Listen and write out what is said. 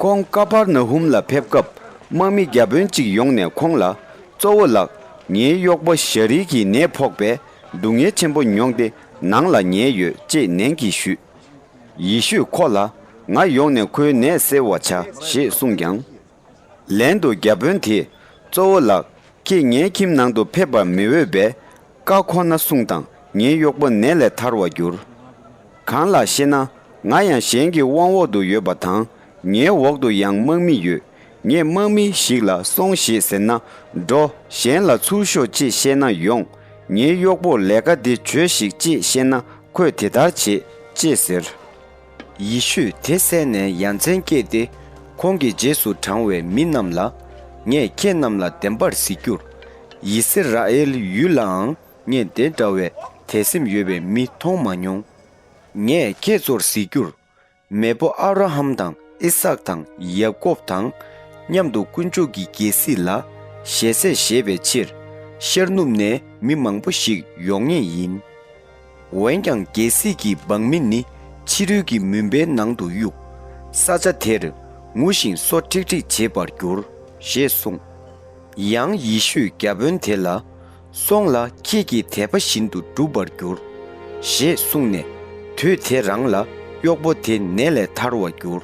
ཁོང་ཀ་བར་ན་ཧུམ་ལ་ཕེབས་སྐབས་དམག་མི་བརྒྱ་དཔོན་གཅིག་ཡོང་ནས་ཁོང་ལ། གཙོ་བོ་ལགས། ངའི་གཡོག་པོ་ཞཱ་རིའི་གིས་ནད་ཕོག་པས་སྡུག་བསྔལ་ཆེན་པོ་མྱོང་སྟེ་ནང་ལ་ཉལ་ཡོད་ཅེས་ནན་གྱིས་ཞུས། ཡེ་ཤུས་ཁོ་ལ། ང་ཡོང་ནས་ཁོའི་ནད་སེལ་བར་བྱ་ཞེས་གསུངས་ཀྱང། ལན་དུ་བརྒྱ་དཔོན་དེས་གཙོ་བོ་ལགས་ཁྱེད་ངའི་ཁྱིམ་ནང་དུ་ཕེབས་པར་མི་འོས་པས། བཀའ་ཁོ་ན་སྲུང་དང་ངའི་གཡོག་པོ་ནད་ལས་ཐར་བར་འགྱུར། གང་ལགས་ཤེ་ན་ང་ཡང་གཞན་གྱི་དབང་འོག་ཏུ་ཡོད་པ་དང་ངའི་འོག་ཏུ་ཡང་དམག་མི་ཡོད་ངས་དམག་མི་ཞིག་ལ་སོང་ཞེས་ཟེར་ན་འགྲོ་གཞན་ལ་ཚུར་ཤོག་ཅེས་བཤད་ན་ཡོང་ངའི་གཡོག་པོར་ལས་ཀ་འདི་བྱོས་ཤིག་ཅེས་བཤད་ན་ཁོས་དེ་ལྟར་བྱེད་ཅེས་ཟེར། ཡེ་ཤུས་དེ་བསད་ནས་ཡ་མཚན་སྐྱེས་ཏེ། ཁོང་གི་རྗེས་སུ་འབྲང་བའི་མི་རྣམས་ལ། ངས་ཁྱེད་རྣམས་ལ་བདེན་པར་གཟིགས་རྒྱུར། ཡི་སི་ར་ཨེལ་ཡུལ་ལའང་ངས་དེ་འདྲ་བའི་དད་སེམས་ཡོད་པའི་མི་མཐོང་མ་མྱོང། ངས་ཁྱེད་ཚོར་གཟིགས་རྒྱུར། མེས་པོ་ཨབ་ར་ཧམ་དང་ཨི་སཱག་དང་ཡཱ་ཀོབ་དང། མཉམ་དུ་དཀོན་མཆོག་གི་རྒྱལ་སྲིད་ལ་ཞལ་ཟས་བཞེས་པའི་ཕྱིར། ཤར་ནུབ་ནས་མི་མང་པོ་ཞིག་ཡོང་ངེས་ཡིན། འོན་ཀྱང་རྒྱལ་སྲིད་ཀྱི་འབངས་མི་ནི་ཕྱི་རོལ་གྱི་མུན་པའི་ནང་དུ་གཡུག། ས་ཆ་དེར་ངུ་ཞིང་སོ་ཁྲིག་ཁྲིག་བྱེད་པར་འགྱུར། ཞེས་གསུངས། ཡང་ཡེ་ཤུས་རྒྱ་དཔོན་དེ་ལ། སོང་ལ་ཁྱེད་ཀྱིས་དད་པ་བཞིན་དུ་འགྲུབ་པར་འགྱུར། ཞེས་གསུངས་ནས། དུས་དེ་རང་ལ་གཡོག་པོ་དེ་ནད་ལས་ཐར་བར་འགྱུར།